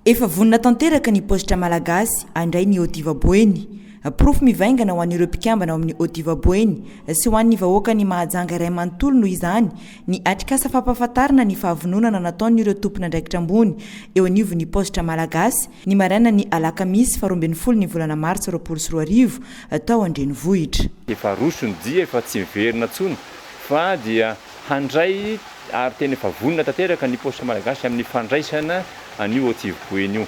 Efa vonona tanteraka ny paositra malagasy handray ny Odiva Boeny. Porofo mivaingana ho an'ireo mpikambana ao amin'ny Odiva Boeny sy ho an'ny vahoakan'i Mahajanga iray manontolo noho izany ny atrikasa fampahafantarana ny fahavononana nataon'ireo tompon'andraikitra ambony eo anivon'ny paositra malagasy ny marainan'ny alakamisy faharoa ambin'ny folo ny volana martsa roapolo sy roa arivo tao an-drenivohitra. Efa roso ny dia efa tsy miverina intsony fa dia. Handray ary tena efa vonona tanteraka ny Poste Malagasy amin'ny fandraisana an'io Otsivo Boeny io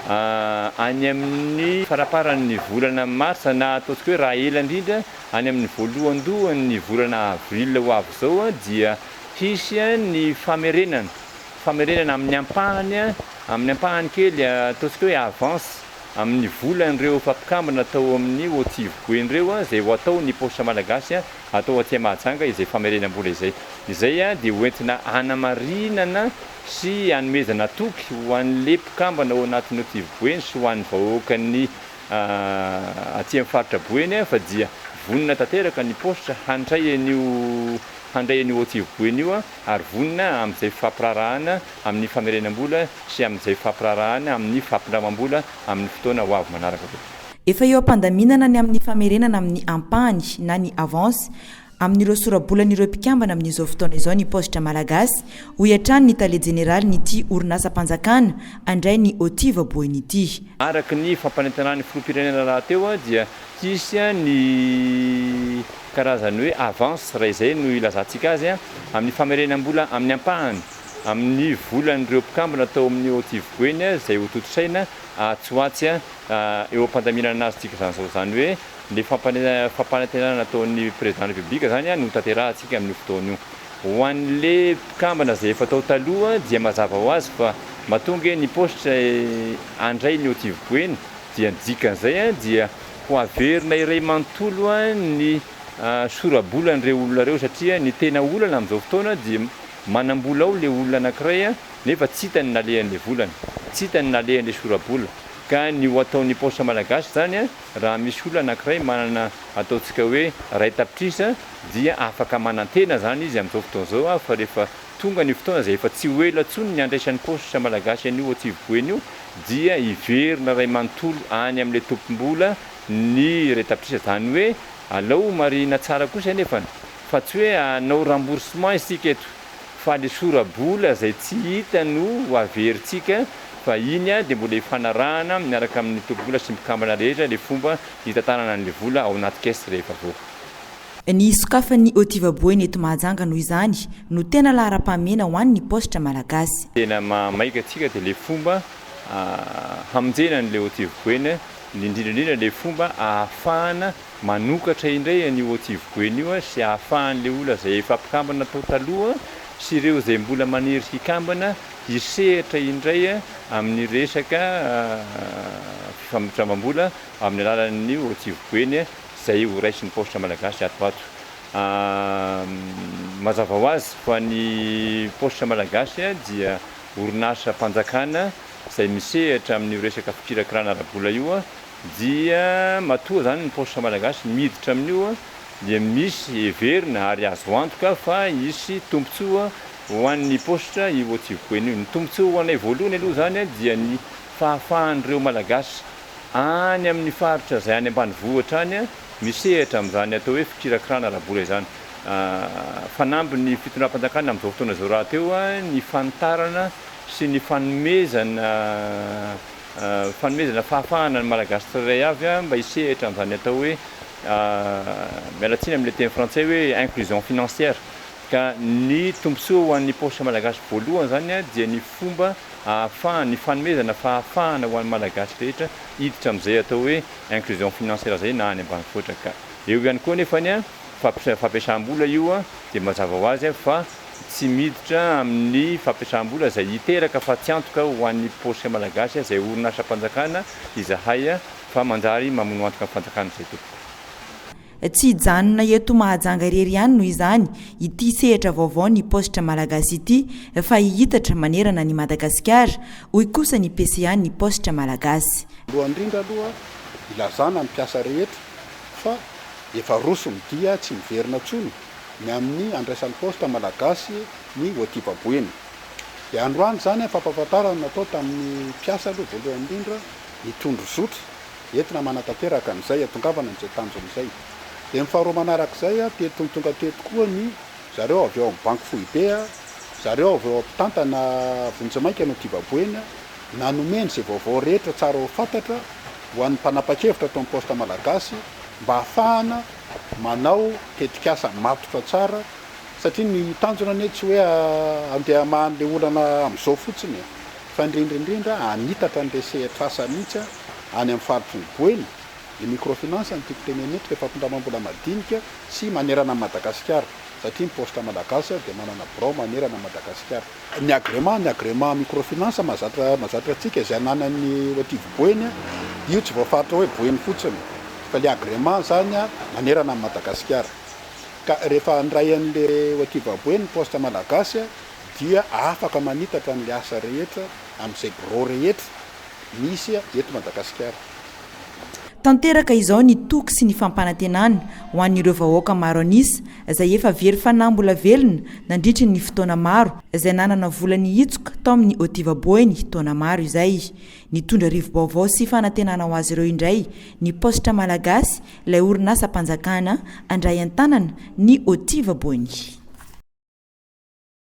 any amin'ny faraparan'ny volana marsa na ataontsika hoe raha ela indrindra any amin'ny voalohandohan'ny volana avril ho avy izao dia hisy ny famerenana famerenana amin'ny ampahany amin'ny ampahany kely ataontsika hoe avance amin'ny volan'ireo efa mpikambana tao amin'ny Otsivo Boeny ireo izay ho atao ny Poste Malagasy atao aty Mahajanga izay famerenam-bola izay. Izay dia ho entina hanamarinana sy hanomezana toky ho an'le mpikambana ao anatin'ny Tiv Boeny sy ho an'ny vahoakan'ny aty amin'ny faritra Boeny fa dia vonona tanteraka ny paositra handray an'io handray an'io ao Tiv Boeny io ary vonona amin'izay fampiraharahana amin'ny famerenam-bola sy amin'izay fampiraharahana amin'ny fampindramam-bola amin'ny fotoana ho avy manaraka koa. Efa eo am-pandaminana ny amin'ny famerenana amin'ny ampahany na ny avance amin'ireo sora-bolan'ireo mpikambana amin'izao fotoana izao ny paositra malagasy, hoy hatrany ny tale jeneralin'ity orinasam-panjakana handray ny OTIF voaboeny ity. Araka ny fampanentanan'ny filoham-pirenena rahateo dia hisy ny karazany hoe avance, raha izay no ilazantsika azy, amin'ny famerenam-bola amin'ny ampahany amin'ny volan'ireo mpikambana tao amin'ny OTIF boeny izay hotontosaina atsy ho atsy eo am-pandaminana anazy tsika izany zao izany hoe le fampanantenana nataon'ny président de la république izany no tanterahantsika amin'io fotoana io. Ho an'le mpikambana izay efa tao taloha dia mazava ho azy fa matoa ange ny poste handray ny hotivy-boeny dia ny dikan'izay dia ho averina iray manontolo ny sora-bolan'ireo olona ireo satria ny tena olana amin'izao fotoana dia manam-bola ao le olona anakiray nefa tsy hitany nalehan'le volany, tsy hitany nalehan'le sora-bola. Ka ny ho ataon'ny paosy malagasy izany raha misy olona anankiray manana ataontsika hoe iray tapitrisa dia afaka manantena izany izy amin'izao fotoana izao fa rehefa tonga ny fotoana izay efa tsy ho ela intsony ny handraisan'ny paosy malagasy an'io Antsivy Boeny io dia hiverina iray manontolo any amin'ilay tompom-bola ny iray tapitrisa. Izany hoe alao ho marihina tsara kosa anefa fa tsy hoe hanao remboursement isika eto. fa le sorabola zay tsy hita no ho averintsika fa iny dia mbola hifanarahana miaraka amin'ny mpitobola sy mpikambana rehetra le fomba hitantanana an'le vola ao anaty caisse rehefa avoaka. Ny sokafan'ny Otiva Boina eto Mahajanga noho izany no tena laharam-pahamehana ho an'ny paositra malagasy. Tena maha maika antsika dia le fomba hamonjena an'le Otiva Boina, indrindra indrindra le fomba ahafahana, manokatra indray an'io Otsiviko eny io sy ahafahan'ilay olona izay efa mpikambana tao taloha sy ireo izay mbola maniry hikambana hisehatra indray amin'ny resaka fifampitrambam-bola amin'ny alalan'ny Otsiviko eny izay ho raisin'ny Paositra Malagasy ato ho ato. Mazava ho azy fa ny Paositra Malagasy dia orinasam-panjakana izay misehatra amin'io resaka fikirakirana ara-bola io. dia matoa zany ny paositra malagasy miditra amin'io dia misy heverina ary azo antoka fa hisy tombontsoa ho an'ny paositra io Otsivipoena io. Ny tombontsoa ho anay voalohany aloha zany dia ny fahafahan'ireo malagasy any amin'ny faritra izay any ambanivohitra any misehatra amin'izany atao hoe fikirakirana ara-bola izany. Fanamby ny fitondram-panjakana amin'izao fotoana izao rahateo ny fanitarana sy ny fanomezana fanomezana fahafahana ny Malagasy tsirairay avy mba hisehatra amin'izany atao hoe, miala tsiny amin'ilay teny frantsay hoe inclusion financière, ka ny tombontsoa ho an'ny paositra Malagasy voalohany izany dia ny fomba ahafahany, ny fanomezana fahafahana ho an'ny Malagasy rehetra hiditra amin'izay atao hoe inclusion financière izay na any ambanivohitra ka eo ihany koa anefany. fampiasam-bola io dia mazava ho azy fa tsy miditra amin'ny fampiasam-bola izay hiteraka fatiantoka ho an'ny paosy malagasy izay orinasam-panjakana izahay fa manjary mamono antoka ny fanjakana izay tompoko. Tsy hijanona eto Mahajanga irery ihany noho izany ity sehatra vaovao ny paositra malagasy ity fa hihitatra manerana an'i Madagasikara, hoy kosa ny PCA-n'ny paositra malagasy. Voalohany indrindra aloha ilazana ny mpiasa rehetra fa efa roso ny dia tsy miverina intsony ny amin'ny handraisan'ny Poste Malagasy ny hoativamboeny. Dia androany izany fampahafantarana natao tamin'ny mpiasa aloha voalohany indrindra ny tondro zotra entina manatanteraka an'izay hiatongavana an'izay tanjona izay. Dia ny faharoa manarak'izay dia tony tonga teto koa ny zareo avy ao amin'ny Banky Foibe, zareo avy ao mpitantana vonjimaika ny hoativamboeny na nomeny izay vaovao rehetra tsara ho fantatra ho an'ny mpanapa-kevitra tao amin'ny Poste Malagasy mba hahafahana manao tetikasa matotra tsara satria ny tanjona anie tsy hoe handeha hamaha an'ilay olana amin'izao fotsiny e! fa indrindra indrindra hanitatra an'ilay sehatr'asa mihitsy any amin'ny faritry ny Boeny ny microfinance no tiako tenenina eto, ilay fampindramam-bola madinika sy manerana an'i Madagasikara satria ny Poste Malagasy dia manana birao manerana an'i Madagasikara. Ny agrément, ny agrément microfinance mahazatra mahazatra antsika izay ananan'ny Oativo Boeny, io tsy voafaritra hoe Boeny fotsiny fa ilay agrément izany manerana an'i Madagasikara. Ka rehefa handray an'ilay Oativa Boeny ny Poste Malagasy dia afaka manitatra an'ilay asa rehetra amin'izay birao rehetra misy eto Madagasikara. Tanteraka izao ny toky sy ny fampanantenana ho an'ireo vahoaka maro an'isa izay efa very fanahy mbola velona nandritry ny fotoana maro izay nanana vola nihitsoka tao amin'ny hotivaboeny taona maro izay. Nitondra rivo-baovao sy fanantenana ho azy ireo indray ny Paositra Malagasy, ilay orinasam-panjakana handray an-tanana ny hotivaboeny.